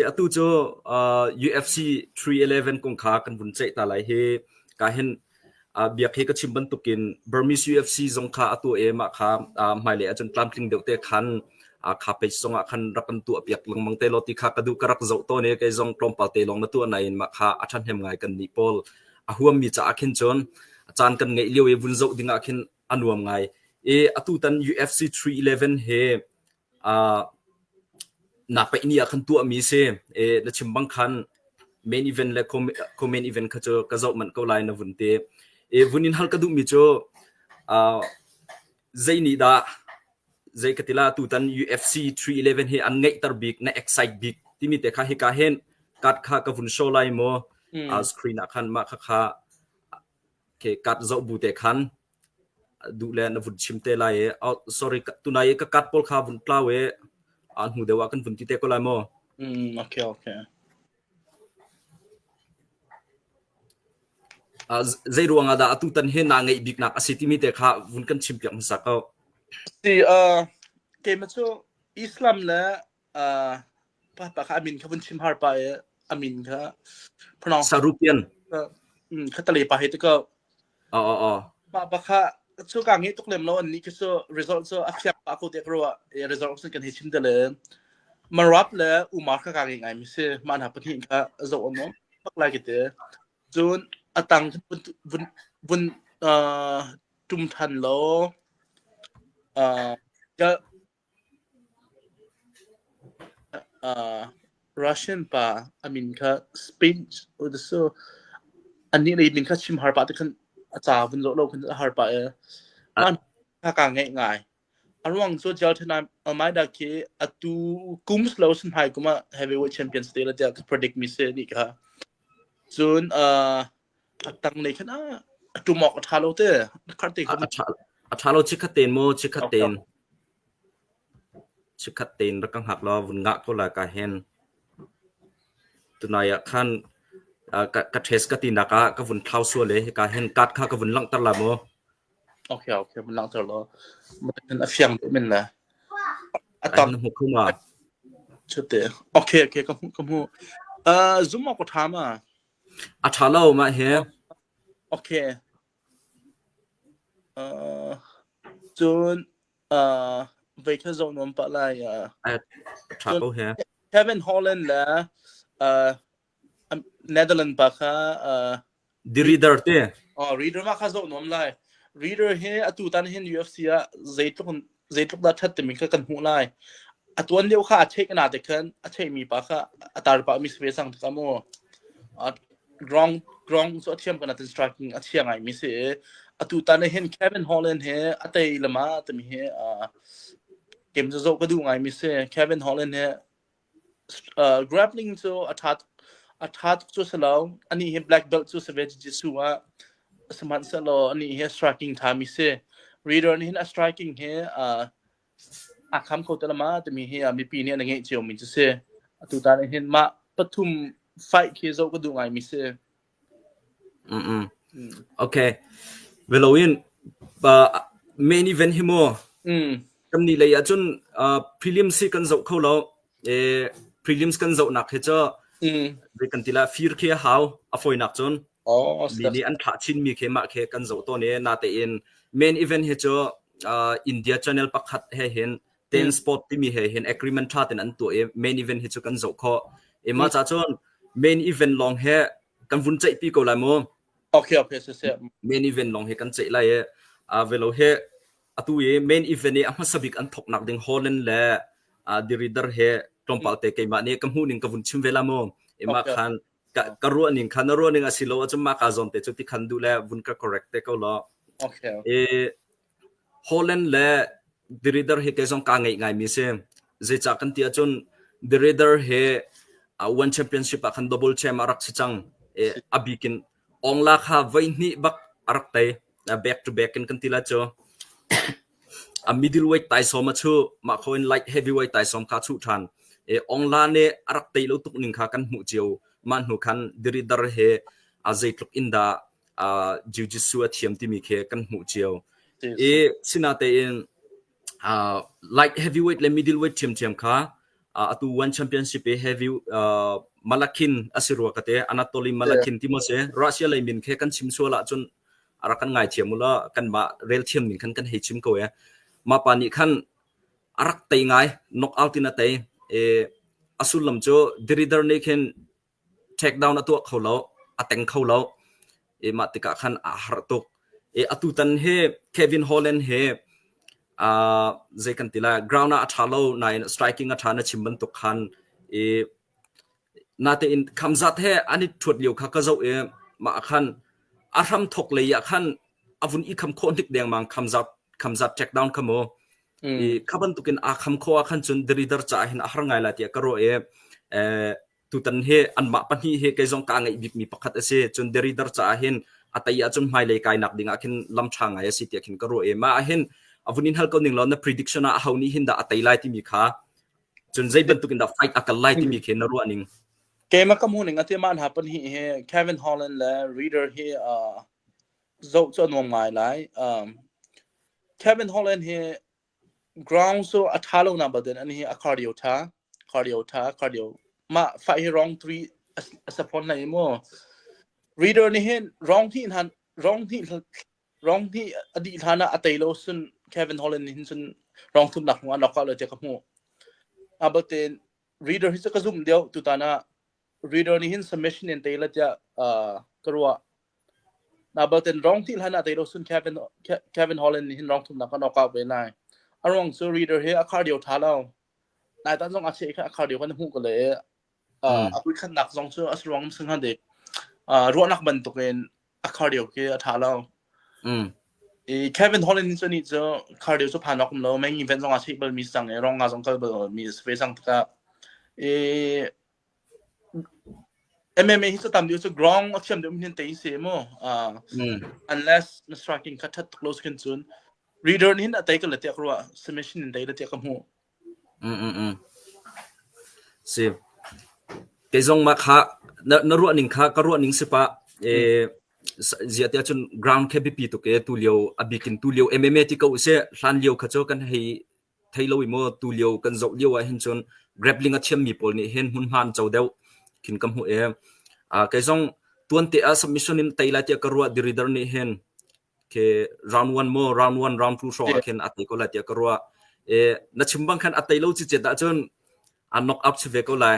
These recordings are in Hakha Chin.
Atu cu UFC 311 kong kha kan vun ceih ta lai hi ka hin biak hi ka chim bantukin Burmese UFC zong kha atu emah kha hmailei ah cun tlamtling deuh te khan kha page song ah khan rak kan tuahpiak lengmang te law ti kha ka duh ka rak zoh tawn i kei zong tlawmpal te lawng na tuah nain mah kha a ṭhahnem ngai kan nih pawl a huammi caah khin cun caan kan ngeih lio i vun zoh dingah khin a nuam ngai i atutan UFC 311 he nak pei ni ah khan tuahmi si na chim bang khan main event le co-main event kha cu ka zoh manh ko lai na vun ti vun in hal ka duhmi cu zei nih dah zei ka tila tutan UFC 311 hi an ngeihter bik na excite bik timi te kha hika hen card kha ka vun show lai mo screen ah khan mah kha kha ke card zo bu te khan A duh le na vun chim te lai i sorry tunai i ka card pawl kha vun tlau i a hnu deuh ah kan vun ti te ko lai maw? Mm, okay, okay. Uh, zei ruang ah dah atu tan hi na ngeih bik nak asi timi te kha vun kan chim piak hmasa ko. Si uh, keima cu Islam le uh, pa pa kha amin kha vun chim har pa i amin kha phonong sarupian mm kha tale pa he te ko o o o pa pa kha chu ka ngi tuk lem lo an ni ki so result so afiak pa ko te kro e result sun kan he chim de le marap le umar kha ka ngi ngai mi se man ha pathin kha zo om no pak lai ki te jun atang vun vun vun uh tum than lo uh Russian pa a min kha Spinch udasu. Annih na ning kha chim harpah ti khan a ca vun zoh law khan a harpah i an kha kaa ngeih ngai. A ruang cu tial ṭhen ah mai dak khi a tu kum lo sun hai kum ah heavyweight champion sa te la tiah ka predict mi si ni kha. Cun a tanglei khan ah a ṭum awk a ṭha lo te na kharh te kha a ṭha lo chikkhat tein maw chikkhat tein chikkhat tein rak ka hngak lo vun ngah ko la ka hen tunai ah khan ka ka ṭhes ka ti nak ah ka vun thlau sua le ka hen card kha ka vun langter la maw okay okay vun langter lo man a fiang min na atam na mu kuma chute okay okay ka mu ka mu uh zuma ko thama A ṭha lo mah hi. Okay. Uh, cun uh, voi khat zong nuam pah lai. Uh, A ṭha ko he. Kevin Holland le uh, Netherlands pa kha uh, The Reader te. oh, reader ma kha zong nuam lai. Reader hi atu tan hin UFC ah zeitluk zeitluk dah ṭhat timi kha kan hmuh lai. A tuan lio kha a theih kana te khan a theihmi pa kha a tarpa mi si ve sang takah mu ground ground cu a thiam kana ten striking a thia ngai mi si a tu tan hin Kevin Holland he a tei lama timi he game zo zo ka du ngai mi si Kevin Holland he uh, grappling cu a ṭha a ṭha tuk cu si lo ani hi black belt cu si ve jiu-jitsu ah sihmanhsehlaw ani hi a striking ṭhami si reader nih hin a striking hi uh, a kham kho te lama timi hi uh, mipi nih an ngeih cionmi cu si atutan hin mah pathum fight khi zoh ka duh ngaimi si Veloin main event hi maw kan nih lei ahcun prelims hi kan zoh kho lo. Prelims kan zohnak hi cu zei kan ti lah fir khi a hau a fawinak cun. Mi nih an thlah chinmi khi mah khi kan zoh tawn i natein main event hi cu India channel pakhat he hin Tensport timi he hin agreement tha ten an tuah i main event hi cu kan zoh khawh. E mah ca cun main event lawng he kan vun ceih pi ko lai mu. Okay, okay, siseh. Main event lawng he kan ceih lai i uh, velo he atu i main event i a hmasa bik an thok nak ding Holland le uh, diridar he tlawmpal te keimah nih ka hmu ning ka vun chim ve la mu. E mah khan ka, ka ruah ning khan na ruah ning a si lo a cun ma ka zon te cu ti khan du le vun ka correct te ko lo. Okay. E Holland le The Reader hi kei zong kaa ngeih ngaimi a si. Zeicah kan ti ahcun The Reader hi uh, One Championship ah khan double champ a rak si cang. I, a bikin Ongla kha voihnih bak a rak tei. Uh, back to back in kan ti la cu. a middleweight taisawm a chu mah kho in light heavyweight taisawm kha chu than e ongla ne arak tei lo tuk ning kha kan hmu cio ma hnu khan dirider he a zeitluk in da jujitsu a thiam timi khi kan hmuh cio i sina tein light heavyweight le middleweight thiamthiam kha atu one championship i heavy malakhin asi rua kate anatoly malakhin ti mo se russia lei min khe kan chim suala chun ara kan ngai thiam ula kan ma rel thiam min khan kan hei chim ko e ma pa ni khan arak tei ngai knock out ina tei e asul lam cho dirider ne khen Ṭhekdau na tuah kho lo, a teng kho lo. I mah tikah khan aa harh tuk. I atutan hi Kevin Holland hi uh, zei kan ti lai, ground ah a ṭha lo nain striking a ṭha na chim bantuk khan i natein kham zat he an i ṭhuat lio kha ka zoh i mah ah khan a hram thok lei ah khan a vun i kham khawh hnik dengmang kham zat kham zat check down kha mu i kha bantukin aa kham kho ah khan cun the reader caah hin a har ngai la tiah ka ruah i eh, Tutan hi anmah pahnih hi kei zong ka ngeih bikmi pakhat a si. Cun Derrida caah hin a tei ahcun hmailei kainak ding ah khin lam ṭha ngai a si tiah khin ka ruah i mah ahhin a vun in hal ko ning law na prediction ah aho nih hin dah a tei lai timi kha cun zei bantuk in dah fight a kal lai timi khi na ruah ning keimah ka hmuh ning ati ma hna pan hi hi Kevin Holland le reader hi uh, zoh cu a nuam ngai lai um, Kevin Holland hi Ground cu a ṭha lonak bak in an hi a khar lio ṭha, khar lio ṭha, khar lio. Mah faih hi wrong three a si fawn hlei mu. Reader nih hin wrong hnih hlan wrong hnih wrong hnih a dih hlan ah a tei lo sun Kevin Holland nih hin cun wrong thumnak hnu an rawk hlah lo tiah ka hmuh. A batin reader hi cu ka zumh deuh tutan ah reader nih hin submission in tei la tiah uh, ka ruah. Naa bal ten rong thih hlan ah tei lo sun Kevin, Kevin Holland nih hin rong thumnak kha knockout ve lai. A ruang cu Reader hi a khar dio tha lo. Nai tan zong a che kha a khar dio kan hmuh ko le a kui khannak zong cu a ruang sung han dik ruahnak bantuk in a khar dio khi a tha lo. I Kevin Holland cu ni cu khar dio cu phan ok lo main event zong a check bal mi sang i rong nga zong kal bal mi se ve sang taka i MMA hi cu tam deuh cu ground a thiam deuh hin tei si mu. Uh, unless na striking kha that tuk lo su cun reader hin a tei ka latiak rua submission in tei latiak ka mu. Mm mm mm. Si. Kei zong ma kha na, na ruah ning kha ka ruah ning si pa eh zia tia chun ground ke bipi to ke tu liu abikin tu liu MMA ti ko se hlan liu kha cho kan hei thei lo i maw tulio kan zoh lio ah hin cun grappling a thiammi pawl nih hin hmunhma an co deuh khin ka hmuh e uh, kei zong tuante a submission in tei lai tiah ka ruah diridar nih hin ke round one mo round one round two hrawng ah khin a tei ko lai tiah ka ruah e na chim bang khan a tei lo chi chet ah cun an knock up chu ve ko lai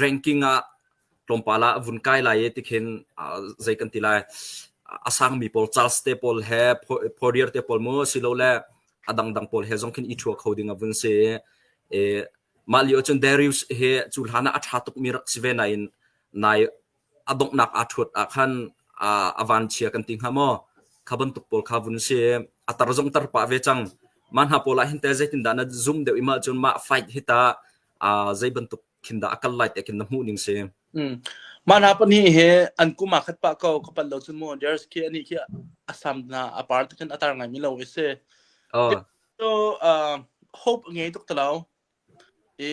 ranking ah tlawmpal ah a vun kai lai i tikhin zei kan ti lai a sangmi pawl Charles te pawl he Poirier te pawl mu silole a dangdang pawl he zong khin i thuwa kho ding a vun si e mah lio cun Darius he cu hlan ah a tha tukmi rak si ve nain nai a donghnak aa ṭhuat ah khan a vanchia kan ti hnga maw? Kha bantuk pawl kha vun si. A tar zong tar pah ve cang. Mah hna pawl ah hin teh zeitindah na zum deuh i mahcun mah fight hi ta zei bantuk khin dah a kal lai tiah khin na hmuh ning si. Mah hna pahnih hi an kum ah khat pah ko ka pal lo cun mu Ders khi ani khi a sam na a par te khan a tar ngaimi lo i si. So hope ngei tuk talo i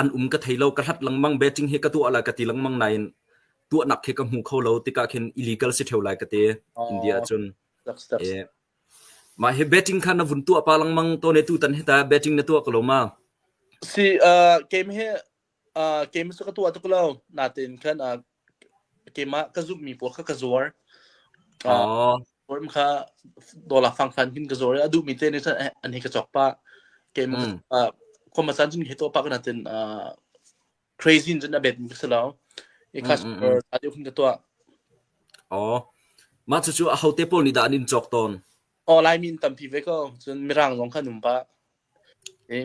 an um ka thei lo ka hlat lengmang betting hi ka tuah lai ka ti lengmang nain tuahnak khi ka hmu kho lo tikah khin illegal si theo lai ka ti India cun mah hi betting kha na vun tuah pa lengmang to ne tu tan hi ta betting na tuah ko lo ma si uh game hi uh game su ka tuah tuk lo natin khan uh Keimah ka zumhmi pawl kha ka zuar. Oh. Zuar kha dawla fangfan hin ka zuar i a duhmi te nih cun an hi ka cawk pah. Keimah ka cawk khuamasaan cun hi tuah pah kana tin crazy in cun a betmi ka si lo. I customer aa deuh hin ka tuah. Oh. Mah cucu ahote pawl nih dah an in cawk tawn? Oh, Laimi in tampi ve ko. Cun Mirang zong kha an um pah.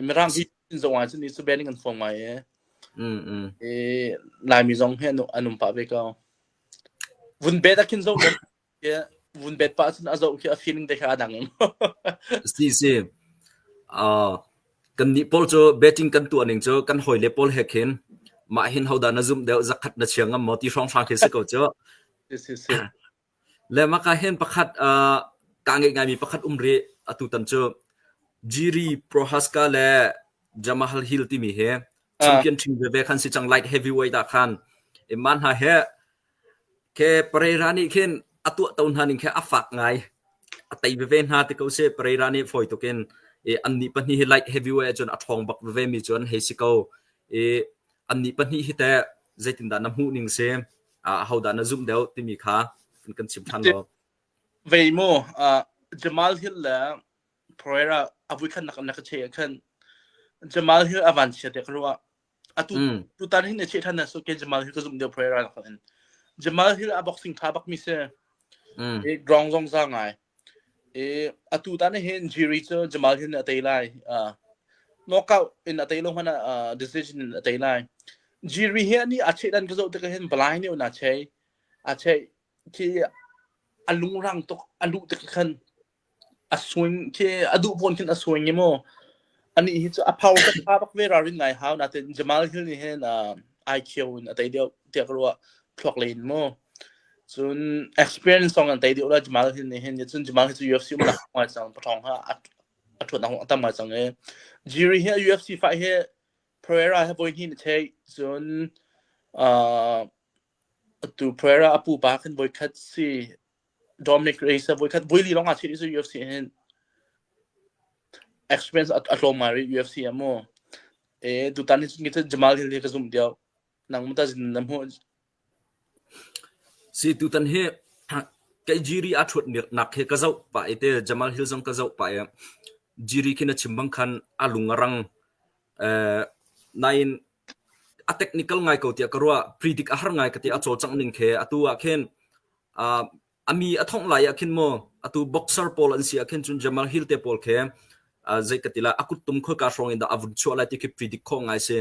Mirang sipuazi zong ahcun cuben in kan fawm ngai i Laimi zong hi an um pah ve ko. Vun bet ahkhin zoh lo vun bet pah ahcun a zoh khi a feeling te kha a dang. Si si. Kan nih pawl cu betting kan tuah ning cu kan hawi le pawl he khin mah hin hodah na zumh deuh zakhat na chia ngam maw ti hrawnghrang khi si ko cu. Si si si. Lehmaka hen pakhat ah kaa ngeih ngaimi pakhat um rih. Atutan cu Jiri Prohaska le Jamahal Hill timi hi champion ṭhing veve khan si cang light heavyweight ah khan. Mah hna hi khe Pereira nih khin a tuahto hna ning khe a fak ngai. A tei veve hna ti ko sih. Pereira nih fawi tuk in annih pahnih hi light heavyweight ahcun a ṭhawng bak vevemi cu an hei si ko. Annih pahnih hi teh zeitindah na hmuh ning si? ahodah na zumh deuh timi kha an kan chim ṭhan lo. Vei maw Jamal Hill le Pereira a vui khan na ka cheh khan Jamal Hill a van chia te ka ruah atu tutan hin ne che than so ke Jamal Hill ka zum deu Pereira na in Jamal Hill a boxing tha bak mi se ground zong za ngai i atu tan hin Jiri cu Jamal hin a tei lai uh, knockout in a tei lo hmana uh, decision in a tei lai Jiri hi ani a cheh dan ka zo te ka hin balai ne na chei a chei khi a lung rang tuk a lu te khan a swing khi a du pon khin a swing mo Anih hi cu a pau ka pha bak ve ralrin ngai hau natin Jamal Hill nih hin uh, ai khio in a tei deuh tiah ka ruah thluak len mu cun experience song an tei deuh la Jamal Hill nih hin cun Jamal hi cu UFC um nak ngai cang pathong ha a thuat nak atam ngai cang e Jiri hi UFC fight hi Pereira he voi hnih ni thei cun uh, tu Pereira apu pa khin voi khat si Dominic Reyes a voikhat vui li lawng ah chiah i UFC hin experience a, a tlawm ngai rih UFC a maw. E tutan hi cun Jamal Hill hi ka zumh deuh. Nang mu ta zin na mu. Si tutan hi kai Jiri a thut nak he ka zau pa e te Jamal Hill zong ka zau pa e Jiri khi na chimbang khan a lung a rang eh nain a technical ngai ko tiah ka ruah. Predik a har ngai ka ti. A cawlcangh ning khi atu ah khin uh, a mi a thongh lai ah khin maw atu boxer pawl an si ah khin cun Jamal Hill te pawl khi uh, zei ka ti la a kuttum khoi ka hrawng in dah a vun chuah lai ti khi predict khong ngai si.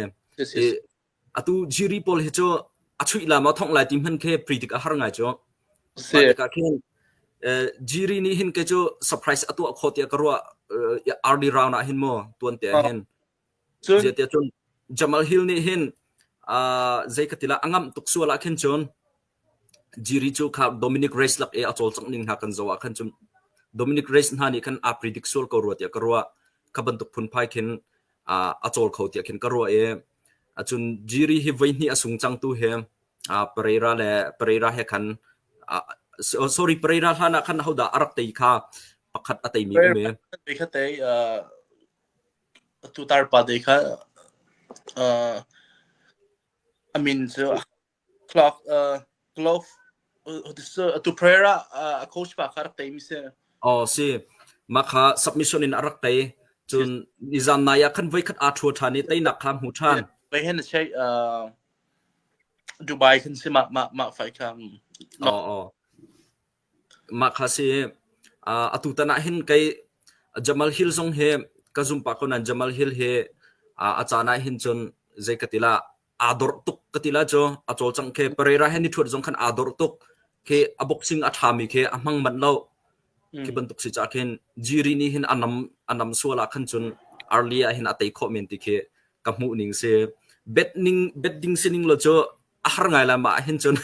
I, atu Jiri pawl hi cu a chuih la ma thongh lai ti hman khi predict a har ngai cu. Si. Ka khin Jiri nih hin ke cu surprise atu kho tiah ka ruah RD round ah hin mo tuan te hin Zeitiah Jamal Hill nih hin zei ka ti lah a ngamh tuk sual ah khin cun Jiri cu kha Dominic Reyes lak i a cawlcangh ning hna kan zoh ah khan cun Dominic Reyes hna nih khan aa predict sual ko rua tiah ka ruah. Kha bantuk phunphai khin a cawl kho tiah khin ka ruah i cun Jiri hi voi hnih a sung cangtu hi Pereira le Pereira he khan sorry Pereira hlan ah khan hodah a rak tei kha pakhat a teimi um i. Atu tarpa te kha uh, a min cu clock uh, glove atu prayer ah uh, a coach pa kha rak tei mi si. Oh si. Ma kha submission in a rak tei. Cun nizan na ya khan voi khat a thua than i tei nak kha mu than. Bei hen che uh, Dubai khan si ma ma ma fai kha. Oh oh. Mah kha a si. Uh, atutan ah hin kei Jamal Hill zong hi ka zum pah ko nain Jamal Hill hi uh, a caan ah hin cun zei ka ti la aa dawrh tuk ka ti la cu a cawlcangh khi Pereira he ni ṭhuat zong khan aa dawrh tuk khi a boxing a ṭhami khi a hmang manh lo khi bantuk si cah khin Jiri nih hin a nam a nam sual ah khan cun early ah hin a tei khawh men ti khi ka hmuh ning si bet ning bet ding si ning lo cu a har ngai la ma hin cun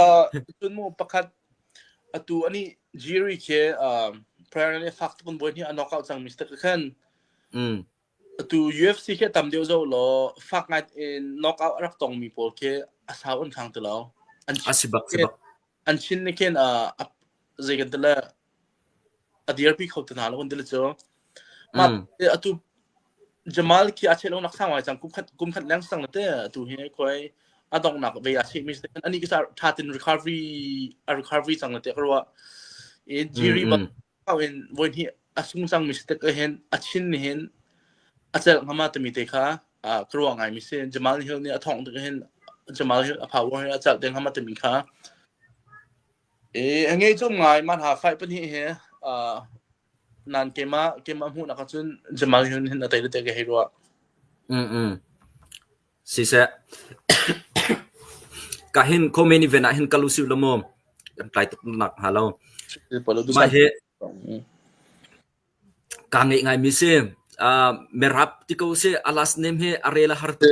uh, cun mu pakhat atu ani Jerry ke uh, prayer ne fak tukun boy ni anok out sang mistake khan mm atu UFC ke tam deu zo lo fak ngai in knock out rak tong mi pol ke asau an khang telo an asibak sibak an chin ne ken a zei kan tala a dirpi kho te hna lo an ti le cu mah atu Jamal khi a cheh lonak sang ngai cang kum khat kum khat leng sang te atu hi khoi a dongnak ve a cheh mi se ani ki tha tin recovery a recovery cang te ko i jiri ba in voin hi a sung sang mi ste ko hen a chin ni hen a cel ngama te mi te kha a kruwa ngai mi se Jamal Hill ni a thong te hen Jamal Hill a power he a chal te ngama te mi kha I a ngei cum ngai man ha fai pahnih hi uh, nan kem ah kem ah hmuh nak cun jamal yun hin a tai te ke hei ruwa mm mm si se ka hin komen event ah hin kalu si lomo kan kai tuk nak ha lo ma hi ka ngai ngai mi si uh, merap ti ko si alas name hi arela har te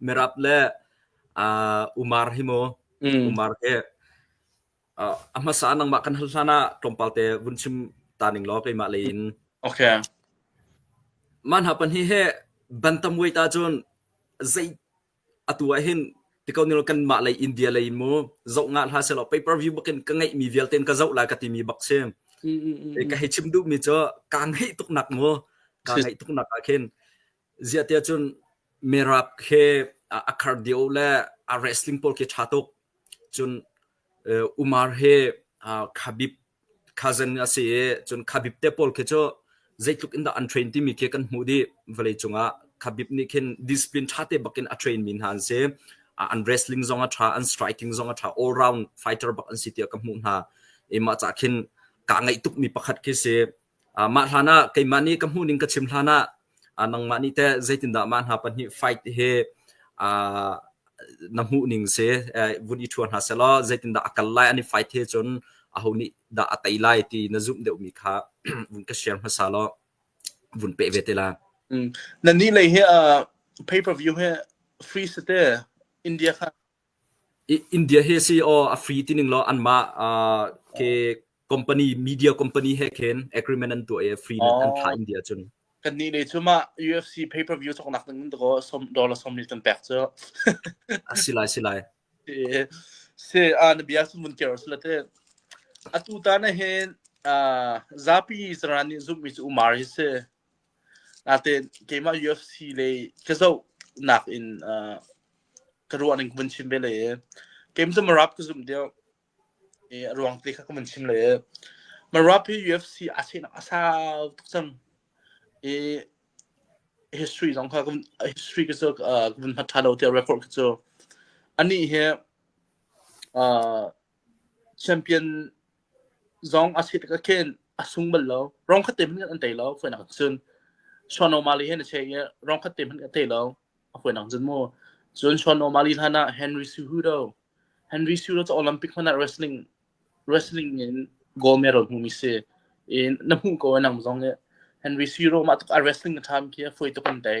Mirap le umar hi maw umar hi a hmasa nangmah kan hal hlan ah tlawmpal te vun chim ta ning law keimah lei in. Okay. Man hapan hi he bantam wei ta cun zei atu ah hin tikau nilo kan mah lei India lei in mu zoh nga hla se law pay per view bakin ka ngeih mi vialte in ka zoh la ka ti mi bak si. Ka hei chim duh mi cu ka ngeih tuk nak mu ka ngeih tuk nak ah khin ziahtiah cun merap khi a khar dio le a wrestling pawl khi ṭha tuk cun umar hi khabib cousin a si i cun khabib te pawl khi cu zeitluk in dah an train timi khi kan hmuh dih vawlei cungah khabib nih khin discipline ṭha te bakin a train mi hna an si an wrestling zong a ṭha an striking zong a ṭha all round fighter bak an si tiah ka hmuh hna i mah cah khin kaa ngaih tuk mi pakhat khi si Mah hlanah keimah nih ka hmuh ning ka chim hlanah nangmah nih teh zeitindah mah hna pahnih fight hi na hmuh ning si vun i ṭhua hna sehlaw zeitindah a kal lai an i fight hi cun aho nih dah a tei lai ti na zumh deuhmi kha vun ka share hmasa law vun peh ve te la. Nannih lei hi pay per view hi free site India kha India hi a si aw a free ti ning law anmah ke company media company he khin agreement an tuah i free in an thlah India cun. Kannih lei cu mah UFC pay per view soknak ding in ko dollar sawm mil kan pek cu. A si lai si lai. Si a na bia sun mun kero si late. Atu ta na hin zapi zaran nih zummi cu umar hi si. Nate keimah UFC le ka zohnak in uh, ka ruahning ka vun chim ve le kem tu marap ka zum deu e ruang te kha ka vun chim le marap hi UFC a chenak a sau tuk cang e history zong kha history ka cu ka vun hmat tha lo te record ka cu ani he uh champion zong a sit ka khen a sung bal lo rong khatte hmanh an tei lo foi nak cun Sean O'Malley he na che i rong khatte hmanh ka tei lo a foi nak cun mu cun Sean O'Malley hlan ah Henry Cejudo Henry Cejudo cu Olympic hman ah wrestling wrestling in gold medal hmu mi si in na hmuh ko nang zong i Henry Cejudo mah tuk a wrestling a tham khi foi tuk an tei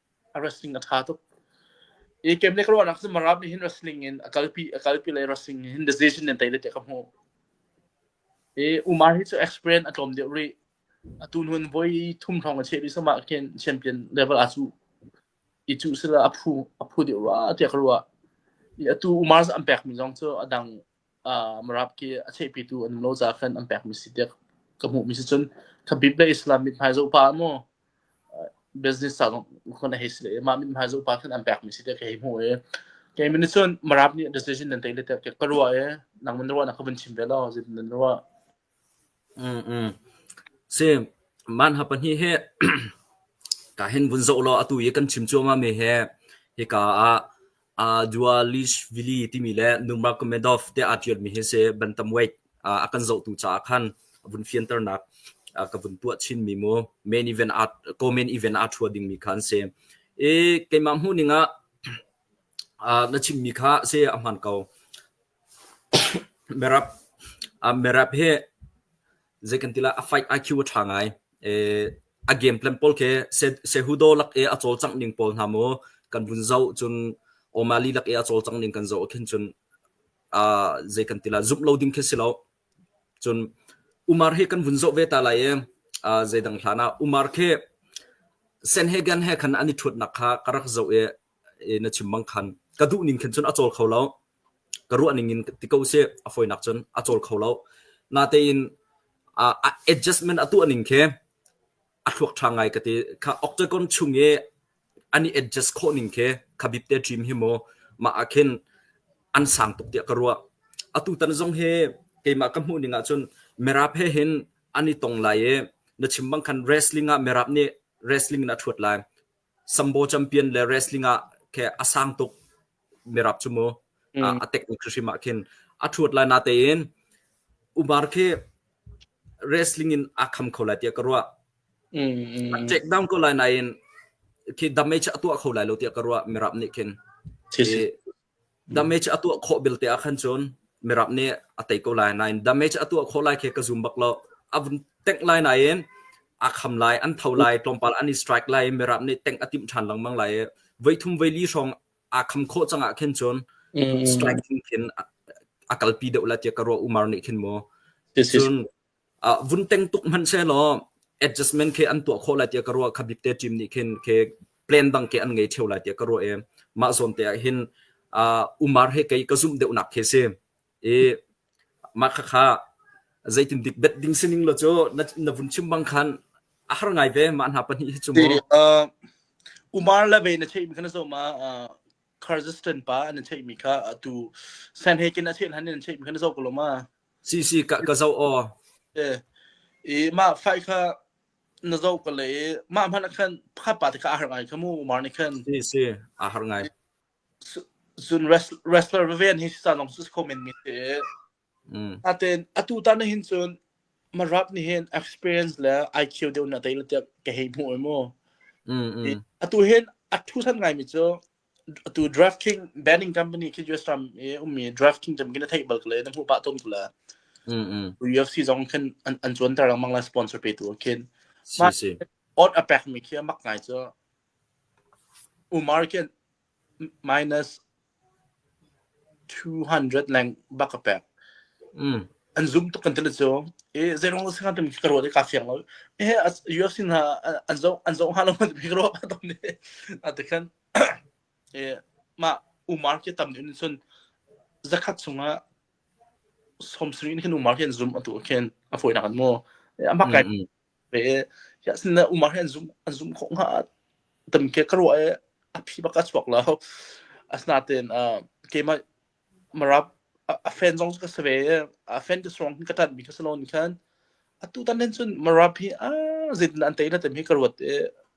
a wrestling a ṭha tuk. I kem le ka ruahnak cu Marab nih hin wrestling in a kalpi a kalpi le wrestling in decision in tei le ka hmuh. I Umar hi cu experience a tlawm deuh rih. A tu nun voi thum hrawng a cheh rih sama khin champion level a cu i cu sila a phu a phu deuh rua tiah ka ruah. I atu Umar an pekmi zong cu a dang Meraki a theihpitu an um lo caah khan an pekmi si tiah ka hmuhmi si cun khabib le Islam mithmai zohpa ah maw business ca zong khon a hei si le mah mithmai zohpa khan an pekmi si tiah ka hei hmuh i kei min cun Merab nih decision nan tei le tiah ka ruah i nangman na ruah na ka vun chim ve lo zit nan ruah Manhha pahnih hi kaa hin vun zoh law atu i kan chim cuahmahmi hi hika ah Dualishvili timi le Nurmagomedov tiah aa ṭialmi hi a si. Bantamweight a kan zohtu caah khan vun fianternak ka vun tuah chinmi mu. Main event aa co-main event aa ṭhua dingmi kha an si. I keimah hmuhning ah na chimmi kha a si a hmaan ko. Merap hi zei kan ti lah a fight IQ a ṭha ngai. A game plan pawl khi Sehudo lak i a cawlcangh ning pawl hna maw kan vun zoh cun O'Malley lak i a cawlcangh ning kan zoh ah khin cun zei kan ti lah zumh lo ding khi si lo. Cun Umar hi kan vun zoh ve ta lai i zeidang hlan ah Umar khi Senhagen he khan an i ṭhutnak kha ka rak zoh i na chim bang khan ka duh ning khin cun a cawl kho lo. ka ruah ning in ti ko sih. A fawinak cun a cawl kho lo. Natein ah a adjustment a tuah ning khi a thluak ṭha ngai ka ti. Kha octagon chung i an i adjust khawh ning khi kha bip te dream hi maw mah ah khin an sang tuk tiah ka ruah. Atu tan zong hi keimah ka hmuh ning ahcun mirap he hin an i tong lai i na chim bang khan wrestling ah mirap nih wrestling in a ṭhuat lai. Sambo champion le wrestling ah khe a sang tuk mirap cu mu a technique hrim ah khin a ṭhuat lai na tein Umar khi wrestling in aa kham kho lai tiah ka ruah. A check down ko lai nain khi damage a tuah kho lai lo tiah ka ruah mirap nih khin. Damage a tuah khawh belte ah khan cun mirap nih a tei ko lai nain damage a tuah khawh lai khi ka zum bak lo. A vun tengh lai nain aa kham lai, an tho lai, tlawmpal an i strike lai i mirap nih tengh a timh ṭhan lengmang lai i voithum voili hrawng aa kham khawh cang ah khin cun strike thlingthin a kalpi deuh la tiah ka ruah umar nih khin maw. Cun uh, vun teng tuk hmanhsehlaw adjustment khe an tuah khawh lai tiah ka ruah kha bikte team nih khin khe plan dang ke an ngei theo lai tiah ka ruah e mah zawn te ah hin uh, umar he kei ka zumh deuh nak khi si i mah kha kha zeitin dik bet ding sining lo chu na, na vun chim bang khan a har ngai ve ma hna pahnih hi chu mo umar le ve na thei mi kana zoma Kyrgyzstan pa an thei mi kha tu San Hagen a thel han an thei mi kana zo ko loma Cicika ka zoh aw. I mah fai kha na zoh ka lei i mah hmanh ah khan pakhat pa te kha a har ngai kha mu Umar nih khan. Si si a har ngai. Cun wrestler veven hi sa long sus comment mi te. Aten atu ta na hin cun ma rap ni hin experience le IQ deu na tai le te ka hei mu e mu. Atu hin a thu san ngai mi cu atu DraftKings banning company khi US ram i ummi DraftKings jam khin a theih bal kale na hmuh pah ton kula mm mm UFC zong khin an an chuan tar lengmang la sponsor pe tu khin si si ot a pek mi khi mak ngai chu Umar khin minus two hundred leng bak ka pek. Mm. An zum tuk kan tili cu. I zeirong sing kan ka ruat i ka fiang lo. E UFC hna an zo an zo ha lo man pik ro ba tom ni. A te khan e ma umar ke tam ni sun zakhat sunga som sri ni kan umar ke an zum atu ken a foi na kan mo. Ama kai Ve ya sin na umar hi an zum an zum khawh hnga tam ke ka ruah e a phi baka chuak lo asna ten a keima marap a fan zong ka save a fan te strong ka tat mi ka salon khan atu tan den chun marap hi a zit an tai la tem hi ka ruat e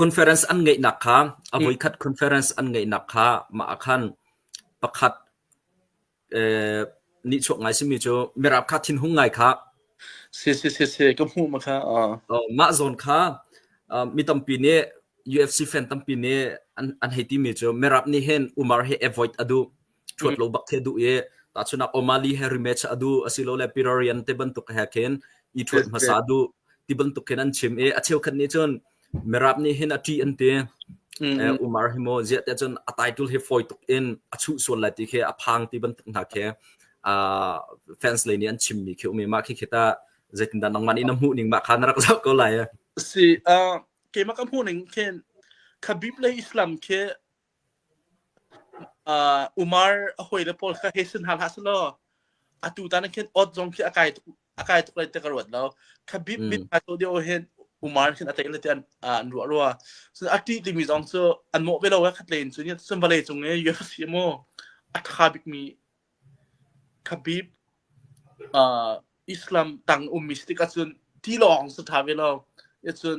Conference an ngeihnak kha a voikhat conference an ngeihnak kha mah ah khan pakhat nihchuak ngai simi cu Mirap kha thinhung ngai kha si si si si ka hmuh ma kha mah zawn kha mi tampi nih UFC fan tampi nih an hei timi cu Mirap nih hin Umar hi avoid a duh cuat lo bak the du e ta chunak Omali Harry match adu asilole Pirarian te bantuk he khen i thuat hmasa du ti bantuk khen an chim e a cheu khan ni chun merap ni hin a ti an te Umar himo zia te chun a title hi foi tuk in a chu sual lai ti khe a phang ti bantuk na khe a fans le ni an chim mi khe umi ma khi khita zeitin dan nangman ina mu ning ma khan rak sa ko lai si a ke ma ka mu ning khen khabib le islam khe Umar a hawile pawl kha hei sin hna hlah selaw atu tan ah khin odd zong khi a kai tuk a kai tuk lai ti ka ruat lo kha bit bit hna cawh deuh hin Umar khin a tei le ti an an ruah rua cun a ṭih timi zong cu an mawh ve lo eh khat len cu ni cun vawlei cung i UEFA si maw a ṭha bikmi Khabib Islam tang ummi si tik ahcun tilawng si ṭha ve lo cun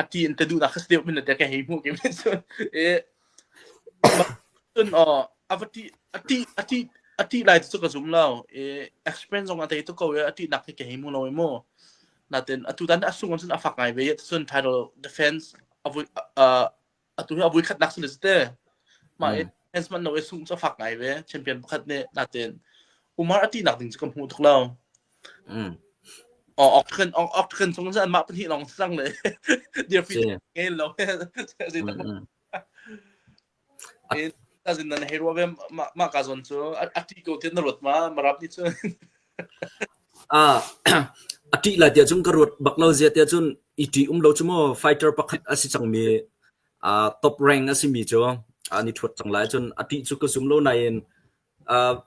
a ti in te duhnak kha deuh min te ke hei hmuh ki min cun e cun o a va ti a ti a ti a ti lai cu ka zum lo e explain zong a tei tu ko e a ti nak ke hei mu lo e mu natin atu tan a sungam cun a fak ngai ve cun title defense a vui atu hi a vui khatnak cu si te mah e enhancement no e sung cu fak ngai ve champion pakhat nih natin umar ati nak ding cu ka hmu tuk lo octagon octagon chung cu anmah pahnih lawng sang le dear fit ngei lo zai ta ta zin nan hei ruwa ve ma ka zon cu ati ko tian na ruat ma marap ni cu A ṭih lai tiah cun ka ruat bak lo zia tiah cun i ṭih-um lo cu maw fighter pakhat a si cangmi top rank a simi cu an i ṭhuat cang lai. Cun a ṭih cu ka zum lo nain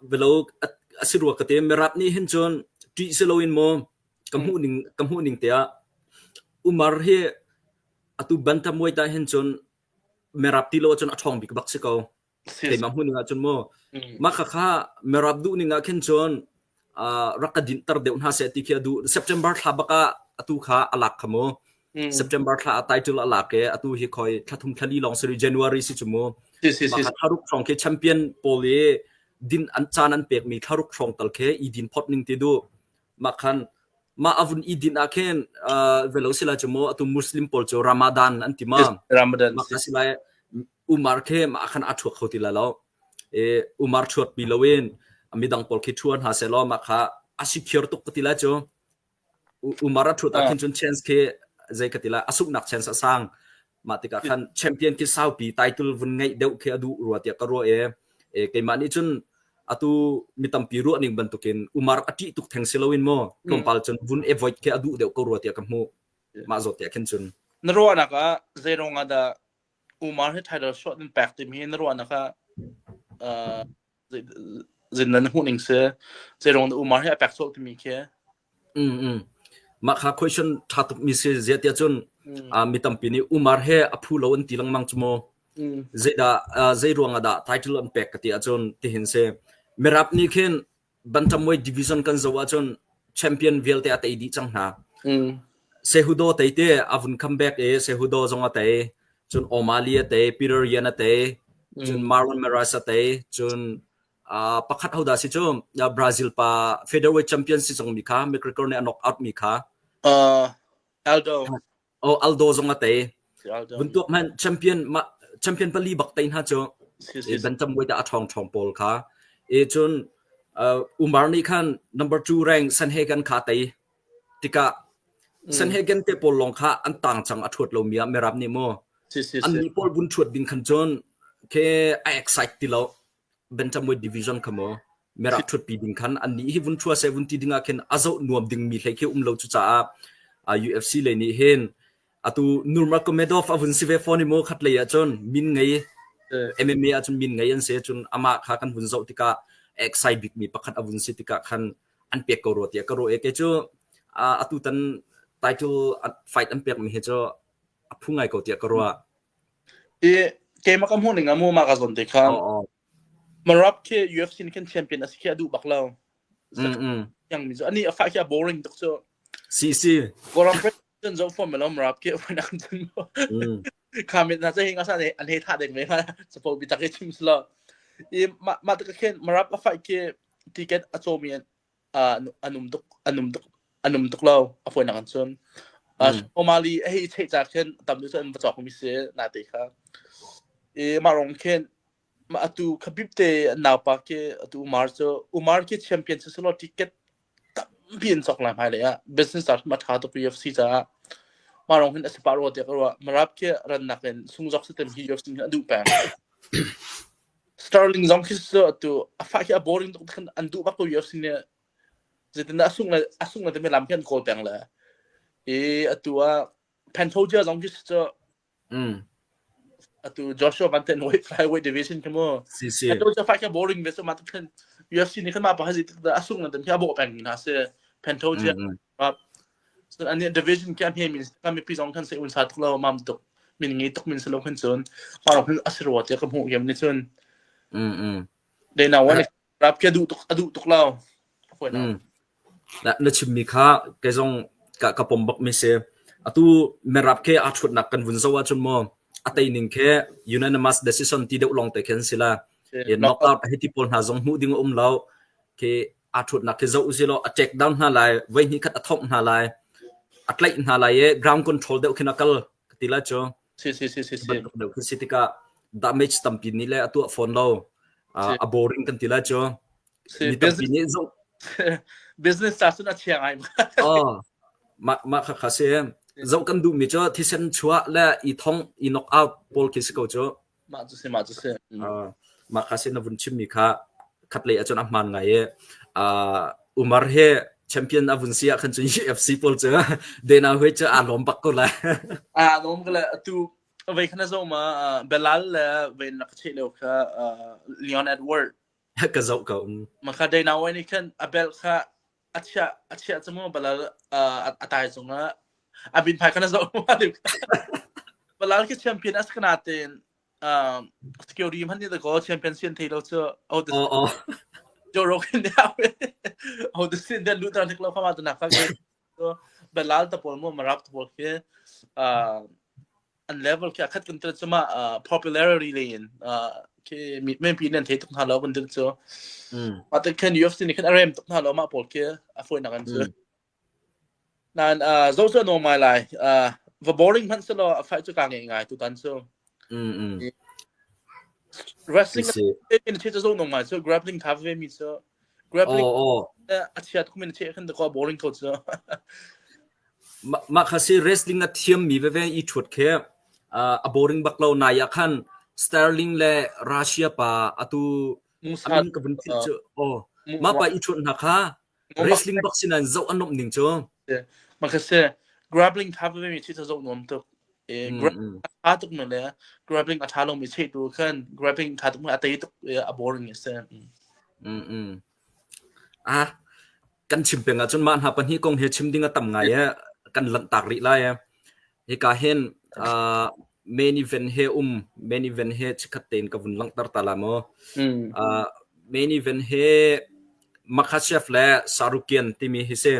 bialo a si rua ka ti. Mirap nih hin cun ṭih si loin maw ka hmuhning ka hmuhning tiah Umar hi atu Bantamweight ah hin cun mirap ti lo ahcun a ṭhawng bik bak si ko. Sema hmun ah cun mu mah khakha merap duh ning ah khin cun rak ka din tar deuh hna se ti khi du September thla baka atu kha alak khamu September thla atai tul alak ke atu hi khoi thlathum thlali long seri January si chumu tharuk trong ke champion pol i din an chan an pek mi tharuk trong tal ke i din phot ning ti du makhan ma avun i din a khen velo sila chumo atu muslim pol chu ramadan an tima ramadan makhasilai umar khe mah khan a thuak kho ti la lo e umar thuat pi loin midang pol khi thuan ha se lo ma kha a secure tuk ka ti la chu umar a thuat a khin chun chance khi zai ka ti la asuk nak chance asang ma tika khan champion ki sau pi title vun ngai deu khe adu ruwa tia ka ro e e ke ma ni chun atu mitampi ru ning bantukin umar ati tuk theng siloin mo tompal chun vun avoid ke adu deu ko ruwa tia ka mu ma zo tia khin chun na ro na ka zeirong ada Umar hi title shuah nan pek timi hi na ruahnak ah uh, zin nan hmuh ning si zeirong na Umar hi a pek sawh timi khi mm mm mah kha question tha tuk mi si ziatia cun mi tampi nih Umar he a phu lo an ti lengmang chu mo zeida zei ruang dah title an pek ka ti acun tihin se mirap ni khin Bantamweight division kan zoh ahcun champion vialte a tei dih cang hna. Sehudo tei te a vun comeback i Sehudo zong a tei. Cun O'Malley a tei, Peter Yan a tei, cun Marlon Meraz a tei, cun uh, pakhat hodah si cu uh, Brazil pa featherweight champion si zong mi kha McGregor nih a knock out mi kha uh, Aldo Oh, Aldo zong a tei. Buntuak man champion champion pali bak tei hna cu ban tam wei da a thong thong pol kha e chun umar ni khan number 2 rank sanhegan kha tei tika sanhegan te pol long kha an tang chang a thuat lo mia merap ni mo an ni pol bun thuat ding khan chun ke a excite ti lo Bentamweight division kha maw Merah thutpi ding khan an nih hi vun thua se vun ti ding ah khin a zoh nuam ding mi hlei khi um lo cu caah UFC le nih hin atu Nurmagomedov a vun si ve fon i mo khat lei ah cun min ngei MMA ah cun min ngei an se cun amah kha kan vun zoh tikah exai bik mi pakhat a vun si tikah khan an pek ko ro tiah ka ro e te cu atu tan title fight an pek mi hi cu a phu ngai ko tiah ka ro i keimah ka hmuh ning ah Muma ka zawn te khan Marab khi UFC nih khin champion asi khi a duh bak lo mm mm yang mi zo ani a fa khi a boring tuk cu si si Goran Prep cun zo form lo Marab khi wan ak cun mm comment na sai nga sa ne an he tha deng me ha support bi tak ke chim slo i ma ma ta khin Marab a fight khi ticket a chomi uh, an um tuk an um tuk an um tuk lo a fuan nak an cun Omali a hi chei cha khin tam du cun va chok mi se na te kha e ma rong khin ma atu khabib te naw pa ke atu umar cho umar ke champion se selo ticket tam bin chok la mai le ya business art ma tha to UFC cha ma rong hin asiparo te ko marap ke ran nak in sung jok system hi UFC du pa Sterling zong khi cu atu a fah hi a boring tuk khan an duh bak ko yu sin i zeitin dah a sung le a sung le timi lam khi an kawl peng le i atu ah Pantoja zong khi cu mm. atu Joshua Van ten flyweight division khi mu si si Pantoja fight khi boring ve so ma tuk khan UFC ni khan ma pa ha zi tuk da a sung le timi hi a bo peng hna se Pantoja So an division ke ahne min kan mipi zong kan se un sa tuk lo mam tuk min ngi tuk min selo kan chun ma hun asirwa te ka mu gem ni chun mm mm de na wan rap ke du tuk adu tuk lo ko na na chim mi kha ke zong ka ka pom bak mi se atu me rap ke a chut nak kan vun zo wa chun mo atai ning ke unanimous decision ti deu long te khen sila e knock out hiti pol na zong mu ding um lo ke aa ṭhutnak hi zoh usihlaw a ṭek dar hna lai, voi hnih khat a thongh hna lai, a tlaih hna lai i ground control deuh khin a kal ka ti lai cu. Si si si si si. Bantuk deuh khi si tikah damage tampi nih le a tuah fawn lo. Uh, a boring kan ti lai cu. Si, Mi tampi nih zung business ca cun a thiang ai. oh, mah mah kha kha si. Zoh kan duhmi cu thisen chuah le i thong i knock out pawl khi si ko cu. Mah cu si, mah cu si. Uh, mah kha sin na vun chimmi kha khatlei ahcun a hmaan ngai i uh, Umar he champion a vun si ah khan cun UFC pawl cu Dana Hui cu aa lawm bak ko lai. Aa lawm ko lai. Tu vei khana zo ma Belal le vei na ka theih leo kha Leon Edward ka zo ka um. Ma kha Dana Hui nih khan a bel kha a chia a chia cu mu balal a tai zung la a bin phai kana zo ma le balal ke champion as kana ten security man ni the goal champion sin thei lo chu out the Joe Rogan dia out the sin then lu tan thik lo khama to nak tak so balal ta pol mu marap to pol ke an level kia khat kun tu chuma popularity le in ke men pi nan thei tuk na lo kun tu chu ma ta kan UFC ni kan arem tuk na lo ma pol ke a foi na kan chu nan zo zo no my life va boring man selo a fai chu ka ngai ngai tu tan chu wrestling in the zo no my so grappling cover mi so Grab link a chiat khumin a chiah khan ta ko boring ko cu mah kha si wrestling a thiammi veve i thuat khe a boring bak lo nai a khan Sterling le Russia pa atu amin ka vun thil cu o ma pa i thuat na kha wrestling bak sinan zo anom ning cu ma kha se grappling tha veve mi chi ta zo nom tuk i grab Mm-mm. a tha tuk nu le grappling a tha lomi chetu khan grappling tha tuk mu a tei tuk i a boring a si. Mm. Mm-mm. Ah, kan chim peng ahcun mah hna pahnih kong hi chim ding a tam ngai e kan lanhtak rih lai e hika hen uh, main event he um main event he chikhat tein ka vun langhter ta la mo Mm. uh, main event he Makhachev le Sarukian timi hi se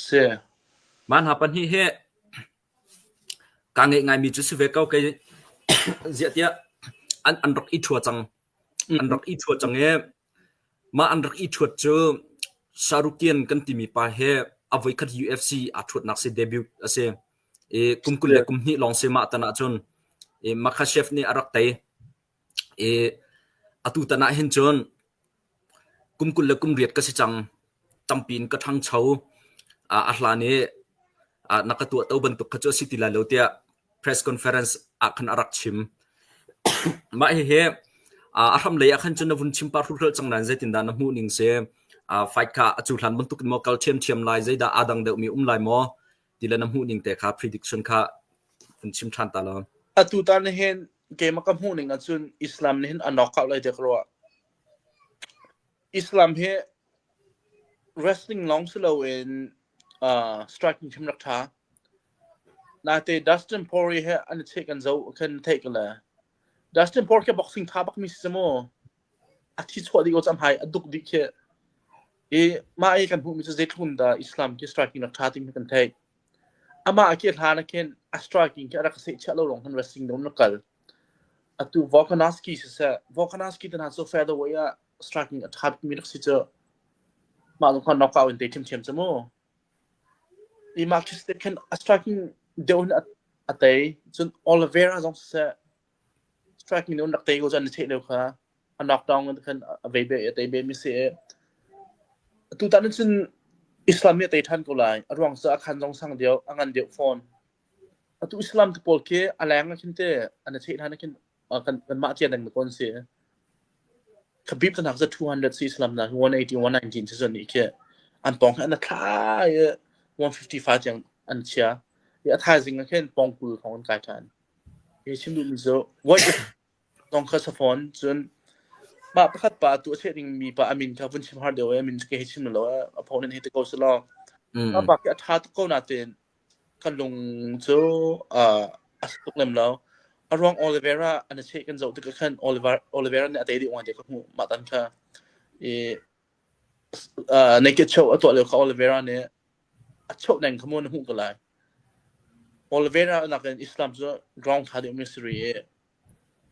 Si. man hna pahnih he Kaa ngeih ngaimi cu si ve ko kei ziah tiah an rak i ṭhua cang. An rak i ṭhua cang i mah an rak i ṭhuat cu Sarukian kan timi pa hi a voikhat UFC aa ṭhuatnak si debut a si. I kum kul le kum hnih lawng si mah tan ahcun i Makhachev nih a rak tei. Atu tan ah hin cun kum kul le kum riat ka si cang. Tampi in ka ṭhangcho. A hlan i na ka tuah to bantuk kha cu a si ti lai lo tiah press conference ah khan a rak chim. Mah hihi a hram lei ah khan cun na vun chim pah hruhruhl cang nain zeitindah na hmuh ning si? Fight kha a cuhlan bantuk in maw kal ṭhiamṭhiam lai? Zeidah aa dang deuhmi um lai maw? Tilan na hmuh ning te kha prediction kha kan chim ṭhan ta lo. Atu tan hin keimah ka hmuh ning ahcun Islam nih hin a nawk hau lai dek rua. Islam hi wrestling lawng si loin uh, striking him rak ṭha. Nate Dustin Poirier he an i cheh kan zo kan theih kan le. Dustin Poirier ke boxing tha bak mi si maw? a thi chuah ding ko cam hai a duk dih khi i mah i kan hmuhmi cu zeitlun dah islam khi striking rak tha ting kan theih amah a ke hlan a khin a striking khi a rak seh chiah lo lawng kan wrestling dom na kal atu Volkanovski si se Volkanovski te hna cu featherweight ah striking a tha mi rak si cu mah lung khan knockout in te thiam thiam chu mu i mark khen a striking deu hin a tei cun Oliveira zong si se fekmi nun rak te ko cun na cheh deuh kha a nok tong khan a vei be a tei be mi si e tu tan cun islam nih a tei ṭhan ko lai a ruang cu a khan zong sang deuh a ngan deuh fawn atu islam tu pawl khi a leng a khin te an a cheh ṭhan a khin kan kan mah tia dang kon si khabib kan hak za 200 si islam na 180 119 si zon ni khi an pong an thla 155 chang an chia ya thaizing a khin pong kul thong an kai ṭhan Zong kha safawn. Cun mah pakhat pa a tuah seh dingmi pa a min kha vun chim har deuh i a min cu ka hei chim lo i a phaw nih hei ti ko seh law. Mah pa khi a ṭha tuk ko nain kan lung cu a si tuk lem lo. A ruang Oliveira an i seh kan zoh tikah khan Oliveira nih a tei dih oang tiah ka hmuh mah tan kha. I uh, naked show a tuah lio kha Oliveira nih a chauh neng kha mu na hmuh ko lai Oliveira nakin Islam cu ground tha deuh mi si ri i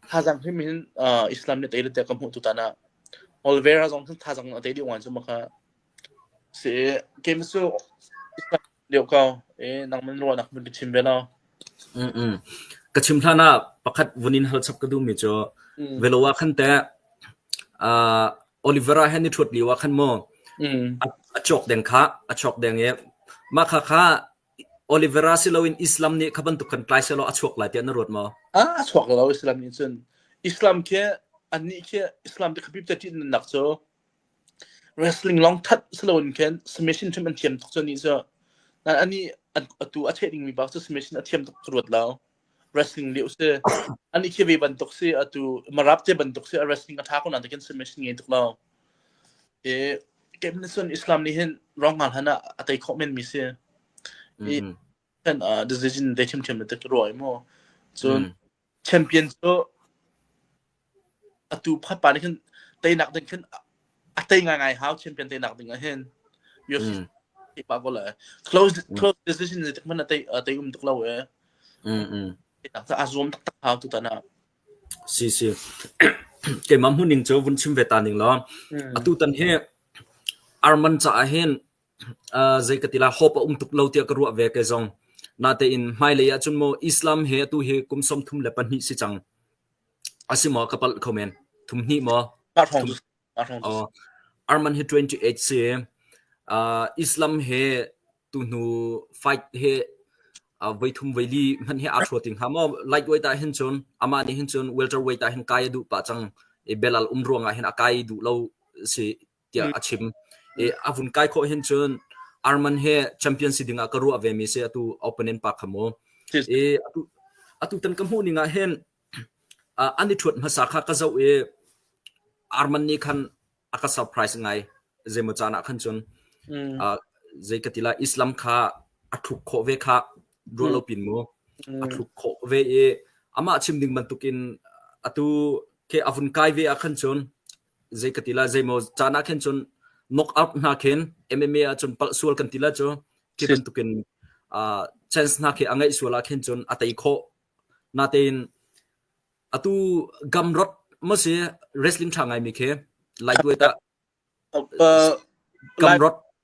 thazang him hin uh, Islam nih tei le te ka hmuh tu tana Oliveira zong hin thazang na tei deuh wan cu maka si game su Islam lio ka e nang man ro nak mun chim ve la mm mm ka chim thana pakhat vunin hal chap ka du mi cho velowa khan te uh, Oliver-a he ni ṭhut lio ah khan maw a cawk deng kha a chuak deng i mah kha kha Oliver-a si loin Islam nih kha bantuk khan tlai sehlaw a chuak lai tiah na ruat maw? A chuak lo Islam nih cun Islam khi annih khi Islam te khapi te ṭih nak cu wrestling long that si loin khin submission ṭhim an thiam tuk cu ni cu anih atu a cheh dingmi bak cu submission a thiam tuk ka ruat lo. wrestling lio si ani khi ve bantuk si atu marap te bantuk si a wrestling atha ko na takin submission ngei tuk lo e kem ni sun islam ni hin wrong ngal hana atai kho men mi si i kan decision they tim tim na tek ro ai mo chun champion so atu phatpa nih khin teinak ding khin a tei ngaingai hau champion teinak ding ah hin Miyoshi pa ko le close close decision le tik man a tei a tei um tuk lo e tak a zuam tak tak hau tu ta na si si ke mam hun ning chu vun chim ve ta ning lo atu tan he arman cha hin zei ka tila hope um tuk lo tia ka ruwa ve ke zong na te in mai le ya chun mo islam he tu he kum som thum le pahnih si chang A si maw? Ka palh kho men. Thum hnih maw? Thum Arman hi 28 si. Uh, Islam he tuhnu fight he uh, voi thum voi li hman he aa thua ting ha maw light weight ah hin chun ama ni hin chun welter weight ah hin kai du pa chang e belal um ruang ah hin a kai du lo si tiah a chim. I a vun kai khawh hin cun Arman he champion si dingah ka ruah ve mi si atu opponent pa kha mu. I atu atu tan ka hmuh ning ah hin an i thuat hmasa kha ka zoh i Arman nih khan a ka surprise ngai zeimaw caan ah khan cun zei ka tila Islam kha a thluk khawh ve kha ruah lo pin mu a thluk khawh ve i amah chim ding bantukin atu ke avun kai ve ah khan cun zei ka ti la zeimaw caan ah khin cun knock out hna khin MMA ah cun palh sual kan ti la cu khi bantukin uh, chance hna khi a ngeih sual ah khin cun a tei khawh natein atu gamrot ma si wrestling tha ngai mi khi lai tuai ta gamrot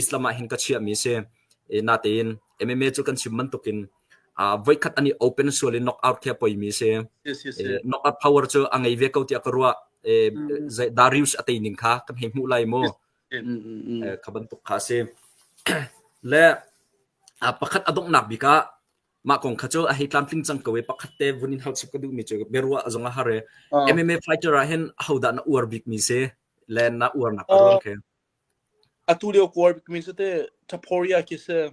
Islam ah hin ka chiahmi a si. Natein MMA cu kan chim bantukin voikhat an i open sual i knockout khi a poimi a si. Knockout power cu a ngei ve ko tiah ka ruah. Darius a tei ning kha kan hei hmuh lai mu. Kha bantuk kha a si. Le pakhat a donghnak bik ah mah kong kha cu a hei tlamtling cang ko i pakhat te vun in hauchip ka duhmi cu biaruah zong a har i MMA fighter ah hin ahodah na uar bikmi si le na uarnak a ruang khi. Atu lio Kawl mi cu teh Taphoria khi si.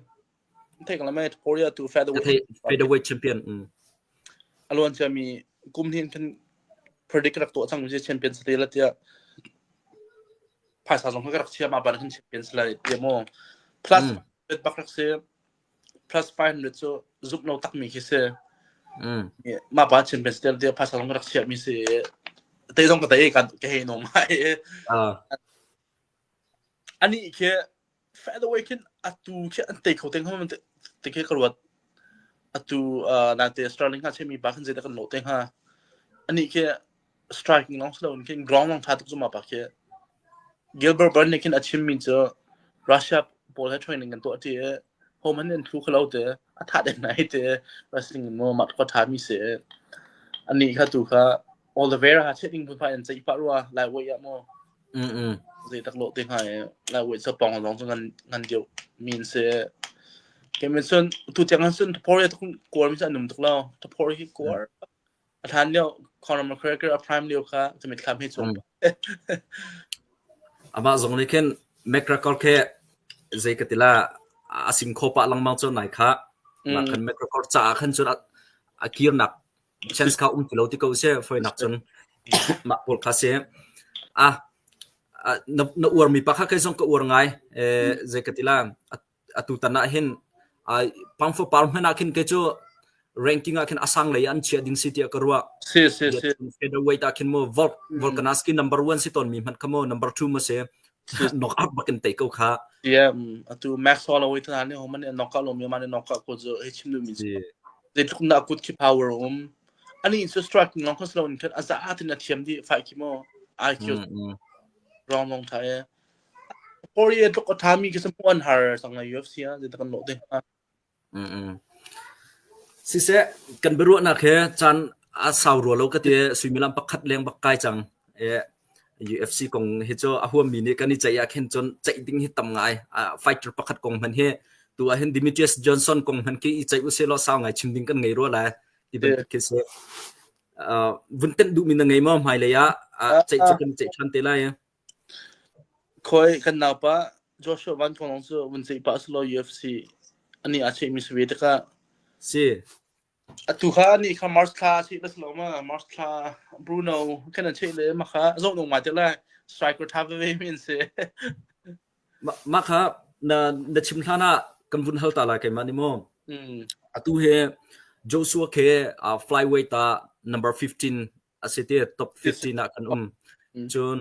Theih ko lai Taphoria tu featherweight. Featherweight champion. Mm. A luan cia mi kum hnih in predict rak tuah cang mi champion sa te la tiah phaisa zong ka rak chia ma ban kan champions lai ti maw plus bak rak si plus 500 cu zuk lo takmi khi si. Mm. Mah pa chin ben stel dia pasal ram rak chiah mi si. Te zong ka te kan ka he no mai. Ani khi further away kin atu khi an take kho teng hom te khi ka ruat. Atu nan te Australia nga che mi ba khan je da kan no teng ha. Ani khi striking long silo in khin ground long tha tuk zuma pa khi Gilbert Burns nih khin a chim mi cu Russia pawl he training kan tuah ti home an in thlu khalo te a tha den nai te wrestling in mo mat ko tha mi se ani kha tu kha Oliveira ha che ding pu fa in chei pa ruwa lai wei ya mo mm mm zei tak lo te ha lai wei sa pong long chu ngan ngan diu min se kemin sun tu chang sun thapor ya tuk kor mi sa num tuk lo thapor hi kor A hlan lio Conor McGregor a prime lio kha ka mitthlam hi cung. Amah zong nih khin McGregor khe zei ka tila a sim kho pa langmang cun nai kha nak kan McGregor ca ah khan cun a kir nak chance kha um tilo ti ko se foi nak cun mak pol kha se a na uar mi pa kha kai zong ka uar ngai eh zei ka tila Atutan ah hin Pang fapar hmanh ah khin kei cu ranking ah khin a sang lei ah an chiah ding si tiah ka ruah. Featherweight ah khin maw Volkanovski number one si tawn mi hmanh kha maw number two maw si knock out bakin tei ko kha. Ie atu Max Holloway tu hna nih hom an knock out lo mi man knock out ko zu he chim lu mi si. Ze tluk na good ki power um ani in strike ngong ko slow in a za atin a thiam di fight ki mo IQ wrong wrong thai Por i a tluk a ṭhami khi sa hmuh an har cang a UFC ah zeidah kan lawh te hnga? Siseh, kan biaruahnak hi caan a sau rua lo ka ti. Suimilam pakhat leng bak kai cang. UFC kong hi cu a huammi nih kan i ceih ahkhin cun ceih ding hi tam ngai. Fighter pakhat kong hmanh hi tu ahhin Demetrius Johnson kong hmanh khi i ceih usih law sau ngai chim ding kan ngei rua lai ti bantuk khi si. Vun tenh duhmi na ngei maw hmailei ah? Ceih cu kan ceih ṭhan te lai. Khawi kan naupa Joshua Van Kong lawng cu vun ceih pah selaw UFC anih aa ceihmi si ve tikah si atu kha anih kha March thla ceih la selaw ma March thla Bruno kan an ceih le ma kha zoh nung ngai te lai striker tha veve mi an si mah kha na na chim hlan ah kan vun hal ta lai keimah ni maw atu he Joshua ke flyweight ah number 15 asi ti top 15 ah kan um cun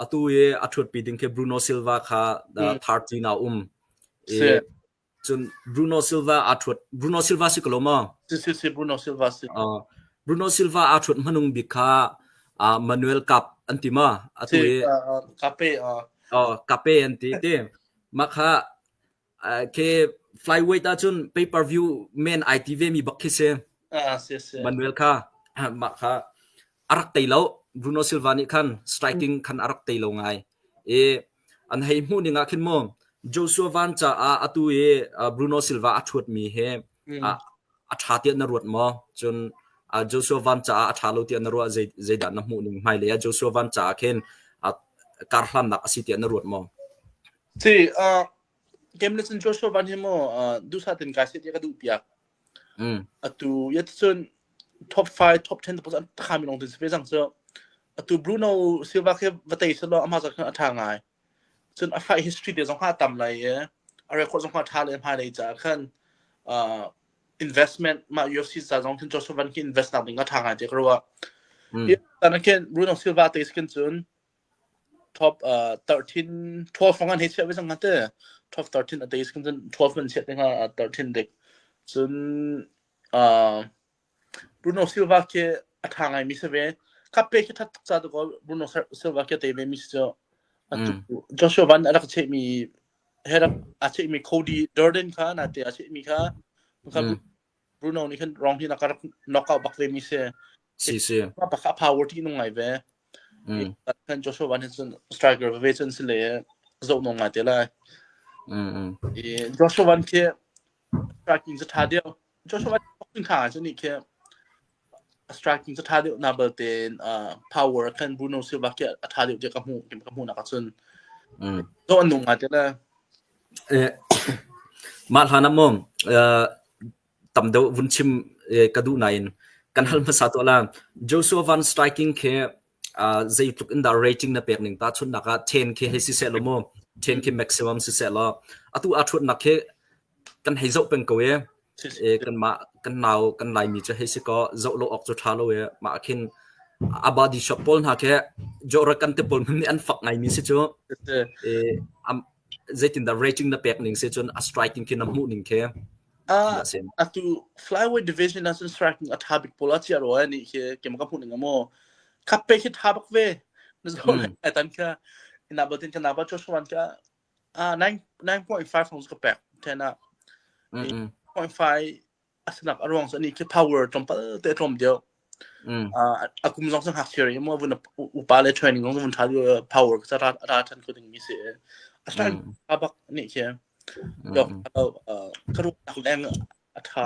atu i a ṭhutpi ding khi Bruno Silva kha thar ṭin ah um i cun Bruno Silva aa ṭhut Bruno Silva si ko lo maw si si si Bruno Silva si Bruno Silva aa ṭhut hmanung bik kha Manuel Cup an ti ma atu i Cape Cape an ti ti mah kha Khi flyweight ahcun pay per view men ai ti vemi bak khi si. Ah si si. Manuel kha mah kha arak tei lo. Bruno Silva nih khan striking khan arak tei lo ngai. I an hei hmuh ning ah khin mu Joshua Van ca ah atu i Bruno Silva a thuat mi he a tha tiah na ruat maw? Cun Joshua Van ca ah a tha lo tiah na ruah zeidah na hmuh ning hmai le Joshua Van ca ah khin kar hlannak a si tiah na ruat maw? Ci, uh, game lesson cuar sual van hi maw uh, dusa tin kai set ya ka duh piak. Mm. Atu yet cun top 5, top 10 tapos an khami long tin se jang so atu Bruno Silva ke vatei selo ama zak a tha ngai. Cun a fight history de zong ha tam lai ye. A record zong ha tha le ma dei cha khan uh, investment ma UFC sa zong tin cuar sual van ki invest nak ding a tha ngai te kro wa. Mm. Tan ken Bruno Silva te skin cun top uh 13 12 fang an hei chiah ve cang ngate top 13 a teis kan cun 12 man chiah te hnga a 13 dik cun uh Bruno Silva ke a tha ngai mi se ve cup pe khi that tuk ca tu ko Bruno Silva ke te ve mi se cu Joshua Van a rak che mi he rak a che mi Cody Durden kha na te a che mi kha Bruno nih hin rong hin a ka rak knock out bak ve mi si. Si si. Ma pakha power ti nung ngai ve. Mm. Kan Joshua Van hin cun striker ve cun si le zo nung ngai te lai. Mm mm. I Joshua Van khi striking sa tha deu. Joshua Van fucking kha cun ni khi a striking cu ṭha deuh na bal tein uh, power kan Bruno Silva khi a ṭha deuh tiah ka hmuh ka hmuhnak ahcun mm. zo an nung ngai tila eh, mah hlan amom uh, tam deuh vun chim ka du nain kan hal hmasa to la Joshua van striking khi zeitluk in dah rating na pek ning tahchunhnak ah ten khi hei siseh law mu ten khi maximum siseh law atu aa ṭhuatnak khi kan hei zoh peng ko i kanmah kan nau kan laimi cu hei si kaw zoh lo awk cu ṭha lo i mah khin a body shop pawl hna khi jorakan te pawl hmun nih an fak ngaimi si cu zeitindah rating na pek ning si cun a striking khi na hmuh ning khi atu flyweight division ah cun striking a tha bik pawl a chia roi ni khi kem ka hmuh ning amo khap pe khi tha bak ve na zo ai tan kha ina batin kana ba choswan ka ah 9.5 rounds ka pek thena 0.5 a sinak a ruang cu anih khi power tlawmpal te a tlawm deuh. Mm. Uh, a kum zong cu ngakchia ri mo vun upa le training zong vun tha power ka ra ra chan ko ding mi si a sran mm. a bak ni khi dok ka ru tak leng a tha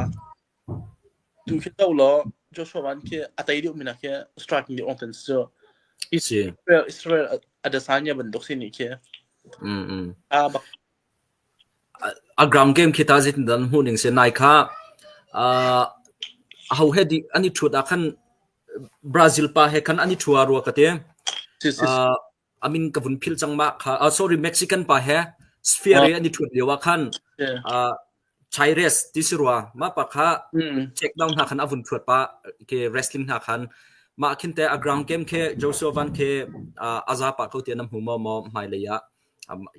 tu khi do lo Joshua wan khi a tai liu mina khi striking di ong tan so isi Israel Israel adesanya ban dok si ni khi mm mm a bak A ground game khi tah zeitindah na hmuh ning si? Nai kha aa aho he dih an i ṭhut ah khan Brazil pa he khan an i ṭhu ah rua ka ti. Si, si, si. Aa a min ka vun philh cang mah kha. Ah, sorry, Mexican pa he sphere i an i ṭhut lio ah khan Yeah. aa Chaires ti si rua. Mah pa kha Mm. check down hna khan a vun ṭhuat pa ke wrestling hna khan. Mah khin te a ground game khi Joe Sylvan khi aa a za pa ko ti na hmu maw maw hmailei ah?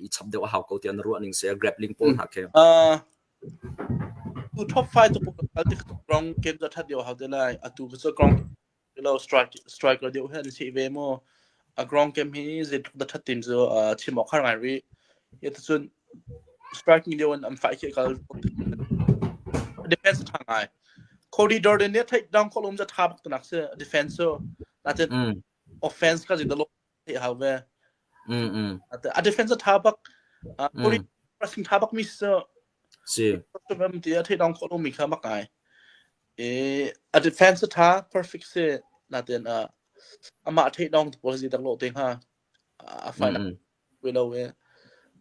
i chap deuh a hau ko tiah na ruah ning si a grappling pawl hna khi. Tu top five tu kal tik rong game za that deu hau te lai a tu cu grong lo strike striker deu hen si ve mo a grong game hi ze da that tin zu chim ok har ngai ri ye tu cun striking deu an am fai khi kal defense tha ngai Cody Jordan ne take down ko lom za tha bak tunak se defense so na ten offense ka ji da lo theih hau ve. Mm mm. A, a defense a tha bak uh, poli Mm. pressing tha bak mi si Si. em ti a theih dong khawh lo mi kha mak ngai. E a defense a tha perfect si na ten a ama theih dong tu policy tak lo te ha a Mm final mm. we lo e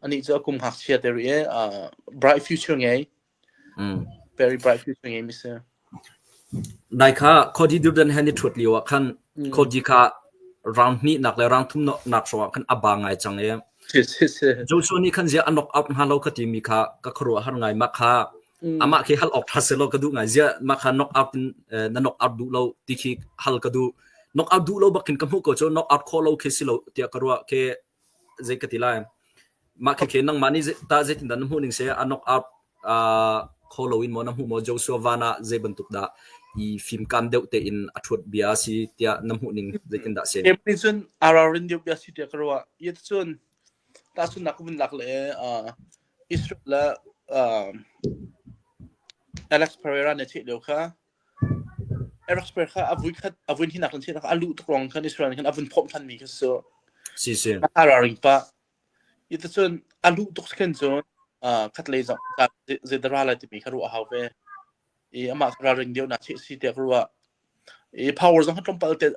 ani chu akum hak sia te ri e uh, bright future ngai Nai kha Khawdi Durdan he ni ṭhuat lioah khan Khawdi kha rang hnihnak le rang thumnak hrawngah khan a ba ngai cang i Joshua nih khan ziah a knock out hnga lo ka timi kha ka khuaruah har ngai. Mah kha amah khi hal awk ṭha selaw ka duh ngai. Ziah mah kha knock out in na knock out duh lo ti khi hal ka duh. Knock out duh lo bakin ka hmuh ko cu knock out khawh lo khi si lo tiah ka ruah khi zei ka ti lai. Mah khi khin nangmah nih tah zeitindah na hmuh ning seh a knock out uh, kho lo in maw na hmuh maw Joshua van ah zei bantuk dah i fimkam deuh tein a thuat bia si tiah na hmuh ning zeitindah sen April cun ararin deuh bia si tiah ka ruah yet cun ta cun nak vun lak le uh, Israel le uh, Alex Pereira ne theih leo kha Aerospace kha a vui khat a vun hinak in si a luh tuk ruang khan Israel nih khan a vun phawmh than mi kha si. Si si. A hararing pa. Hi ta cun a luh tuk khan cun khat lei zong zei da ra lai timi kha ruah hau ve. I amah kha raring deuh nak si tiah ka ruah. I power zong kha tlawmpal te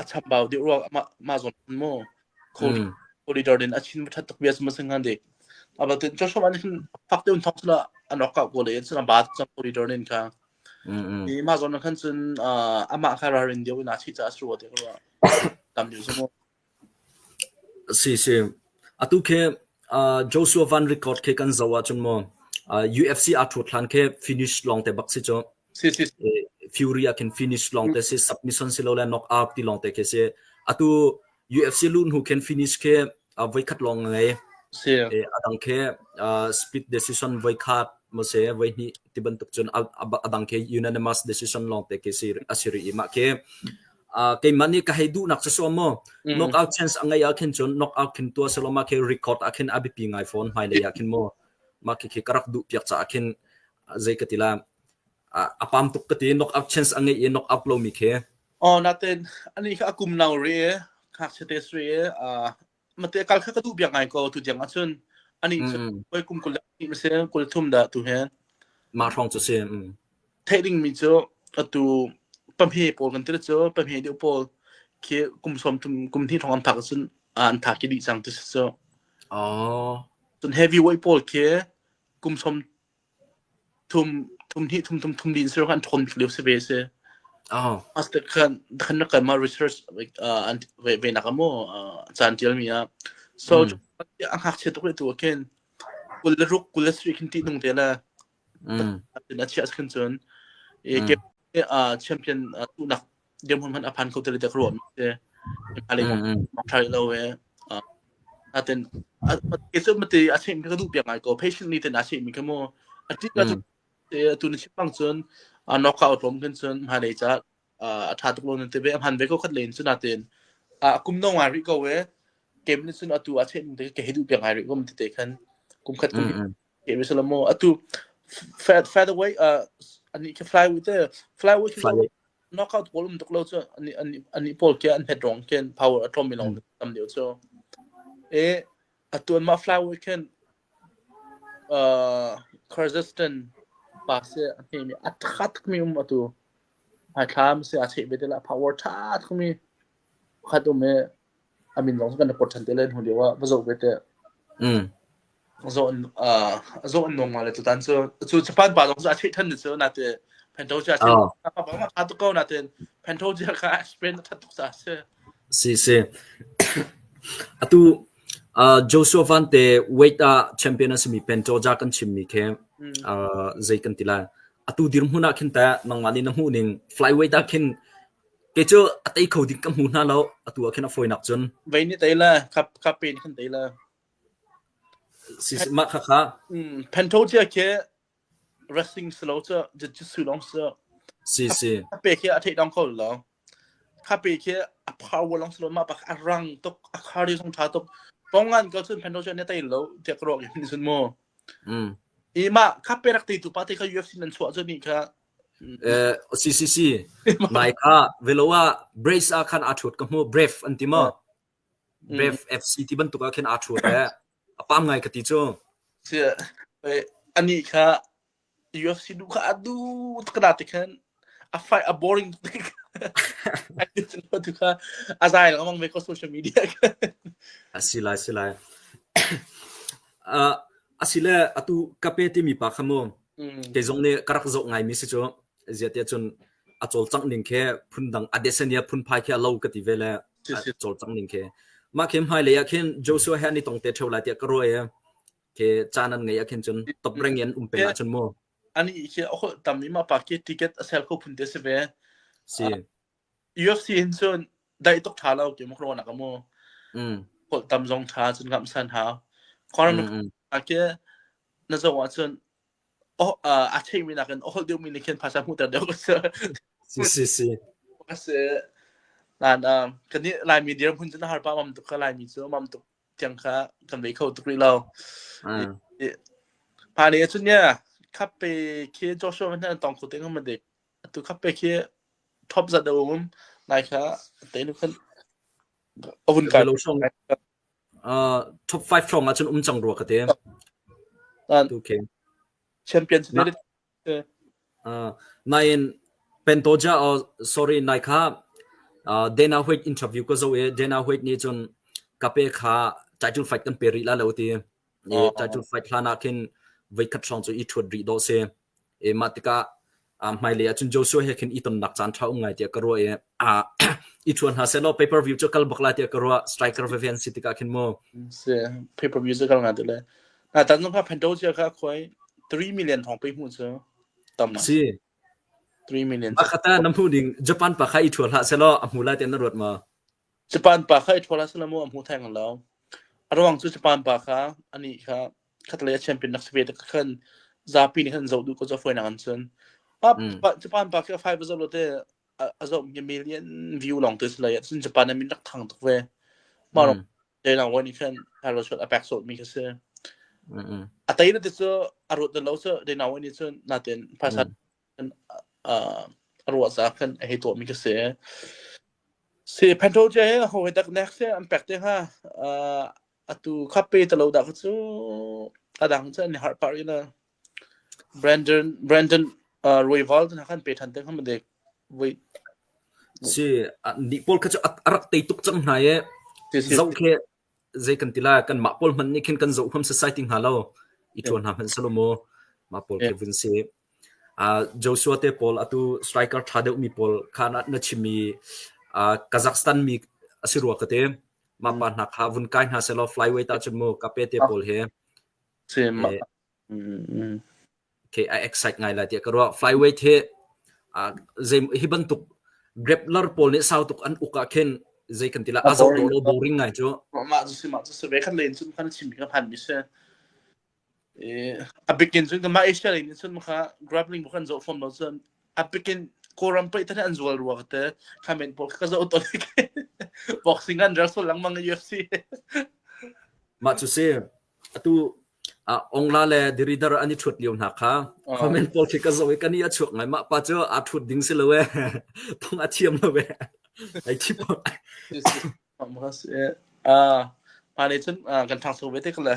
a chambau deuh rua mah mah zawn maw Mm. corridor in a chin va that tuk bias ma sing handi aba tin cho shom an hin fak deuh thong sula an rock up go le en suna ba chang corridor nin kha Mm. ni ma zawn khan sun ama kha rar in deu na chi cha sru te rua tam deu sumo si si atu khe uh, Joshua Van record khe kan zawa chun mo uh, UFC a thu thlan khe finish long te bak si cho Fury ah khin finish long te si submission si lo le knock out ti long te khi si atu UFC lu hnu khin finish khi voi khat long ngai adang khi split decision voi khat mo se voi hni ti bantuk chun adang khi unanimous decision long te khi si asiri ima khi keimah nih ka hei duh nak so mo knock out chance angai a khin chun knock out khin tua seloma ke record a khin abipi ngai phone mai le ya khin mo ma khi karak du piak cha khin zei ka ti la a pam tuk ka ti knock out chance a ngei i knock out lomi khi oh natin ani kha akum nau re ngakchia te sre mate kal kha ka du bia ngai ko tu jang achun ani oi kum kul ni mase kul thum da tu he ma thong chu si thading mi chu atu pamhe pol kan tir chu pamhe de pol khi kum som tum kum thi thong am thak sun an tha ki di sang tu so oh sun heavy weight pol khi kum som thum thum hnih thum thum thum din sir kan thon leu se ve se as te khan khan kan ma research an ve na kamo chan tial mi a so a hak che to tu ken kul ruk kul sri khin ti nung te la na chia khin chun e ke a champion tu nak dirhmun hmanh a phan kho ti le tiah ka ruah te hmalei kong tha lo e aten itu mati a chim ka duh piak ngai ko patient ni ten a chim mi ka mo a ti ka tu ni chipang chun a knock out lom kan chun ma le cha a tha tuk lo ne te be a han ve ko khat len chun aten a kum no ngai ri ko e kem ni chun atu a chim te ke he du piak ngai ri ko ti te khan kum khat kum Game is a lot more. Atu Fat Featherweight uh ani khi flyweight te flyweight hi Flyweight. knockout goal um tuk lo chu ani ani ani pol ke an het rong ken power atom mi long tam deu chu e atuan ma flyweight ken uh Kyrgyzstan pa se ani mi athat mi um atu ai thlam se a che be de la power tha mi khat um e a min lawng cu kan rak port ṭhan te le hnu lio ah va zoh ve teh mm. zaw an uh, zaw an nong le tutan cu cu japan pa lawng cu a theih than cu na te pento cu a theih pa pa ma tha to ko na te pento ji ka spain that tuk sa se si si atu uh, Joshua Van te weight a champion asimi pento ja kan chim mi khe uh, zei kan tila atu dir hmuna khin ta nangma ni na mu ning flyweight a khin Kei cu a tei kho ding ka hmu hna lo. Atu ah khin a fawinak cun Vei nih tei le khap khap pe in khan tei le si si- mah khakha mm, Pento tia khi wrestling si lo cu jiu-jitsu lawng si si si a pe khi a theih dong kho lo kha pe khi a power long si lo ma pak a rang tuk a khari song tha tuk pongan ko chun Pento tia ne tei lo tia kro ki ni sun mu mm, i ma kha pe rak ti tu pa te kha UFC nan chuah chu ni kha CCC nai kha velo ah brace ah khan aa ṭhut ka hmuh brave an ti maw brave FC ti bantuk ah khin aa ṭhut e a pam ngai ka ti cu anih kha UFC nu kha a du tkana te khan a fight a boring tu kha a zai lawmang ve ko social media a si lai si lai a si le atu kape timi pa kha mu Mm. Kei zong nih ka rak zoh ngaimi si cu ziahtiah cun a cawlcangh ning khi phundang a desania phunphai khi a lo ka ti ve le a cawlcangh ning khi mah khi hmai lei ah khin Joshua he ni tong te theo lai tiah ka ruai ke chan an ngei akhin chun top reng in um pe la chun mu ani ke a hol tam ima pa ke ticket a sel kho phun te se ve si UFC hin cun daih tuk ṭha lo ti mak raw nak a mu. Mm. Holh tam zong ṭha cun kamh san hau. Conor mm -hmm. a ke na zo ah cun oh uh, a theih mi nak in ohol deuh mi ni khin phasa mu ter deuh ko si. Si si. Ka si. Lan um kan ni lai mi dir hun cun har pa mam tuk ka lai mi cu mam tuk tiang kha kan vei kho tuk ri lo. Pa ni cun yeah, khap pe khi Joshua kan tong khu teng ma dik Atu kha pek hi top zat a um. Nai kha teinu khan a vun kai. Uh, top 5 hrawng ahcun um cang rua ka te. Okay. Champion tonight. Uh, nain Pentoja or sorry nai kha uh, Dana White interview ko zo e Dana White ni chun kape kha title fight kan pe ri la lo ti i title fight hlan ah khin voikhat hrawng cu i thuat rih dawh si e mah tikah hmailei ah cun Joshua he khin i tonnak caan tha um ngai tiah ka ruah i i thuan hna selaw paper view cu kal bak la tiah ka ruah striker veve an si tikah khin mu si paper view cu kal nga tu le na tan nong kha phando chia kha khoi 3 million thong pe mu cu tam si 3 million ma khata na mu ding japan pa kha i thuan hla selaw a mu la tian na ruat ma Japan pa kha i ṭhawl ah selamu a hmu theng lo. A ruang cu Japan pa kha anih kha khatlei a champion nak si ve ka khan zapi nih khan zoh duh ko zaw fawinak an sun. Pa, Mm. pa, Japan pa khi a five a zoh lo te a, a zoh mi a million view lawng te si lai cun Japan a min rak thang tuk ve. Mah rawng dei lang wan i khan Carlos a pek sawt mi kha si. A tai na ti cu a ruat na lo cu dei na wan i cun natin phaisa a ruah caah khan a hei tuahmi ka si. Si Phanto cia hi ho he dak nek se an pek te hnga atu khape talo dah kha cu adang cu an har par ina Brandon Brandon Royval na khan pe than te hnga madek voi si ni pol kha chu arak tei tuk chang hna ye zau khe zei kan tila kan ma pol man ni khin kan zo hom society nga lo i thon ha man salomo ma pol ke vun si Joshua te pawl atu striker ṭha deuhmi pawl kha na chim i Kazakhstan mi a si rua ka ti. Mah pa hna kha vun kai hna sehlaw flyweight ahcun mu Kape te pawl hi okay, a excite ngai lai tiah ka ruah. Flyweight hi hi bantuk grappler pawl nih sau tuk an uk ah khin zei kan ti lah a zor lo boring ngai cu. Mah cu si mah cu si ve kan len cun kan chim mi kan han mi si. a bikin cun mah asia lei nih cun maka grappling bu kan zo fom lo cun a bikin kawram pei than an zual ruwa te khamen pol ka zo to like boxing an reso lang mang UFC ma chu se atu ongla le diridar ani thut liu na kha comment pol khi ka zo ka ni a chuak ngai ma pa chu a thut ding si lo e thong a thiam lo e ai thi po Um ka si eh. Ah, hmaan nih cun ah, kan ṭhangcho ve te ko le.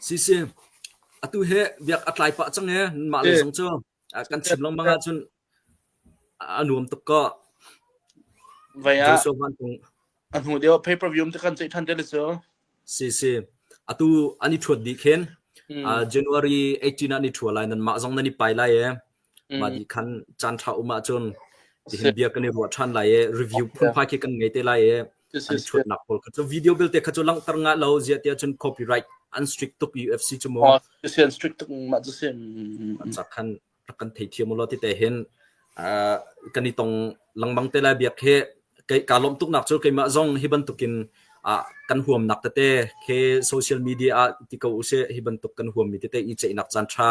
Si si. Atu he biak a tlai pah cang e. Mah le Eh. zong cu ah, kan chim longmang eh. ahcun a nuam tuk ko. Vai ah, Joshua Van Kung. a hnu deuh pay-per view te kan ceih ṭhan te le cu. Si si. Atu an i ṭhuat dih khin. Mm. Ah, January 18 ah ni ṭhua lai nan mah zong nan i pai lai e. Mah ni khan caan ṭha um ahcun hihin bia kan i ruah ṭhan lai i review phunphai khi kan ngei te lai i an chuatnak pawl kha cu video belte kha cu langhter nga lo ziah tiah cun copyright an strict tuk UFC cu maw an strict tuk mah cu si cak khan rak kan thei thiam ulo ti te hin kan i tong langbang te lai biak hi ka lawm tuk nak cu keimah zong hi bantukin kan huamnak tete he social media ah ti ko use hi bantuk kan huam mi tete i ceihnak caan ṭha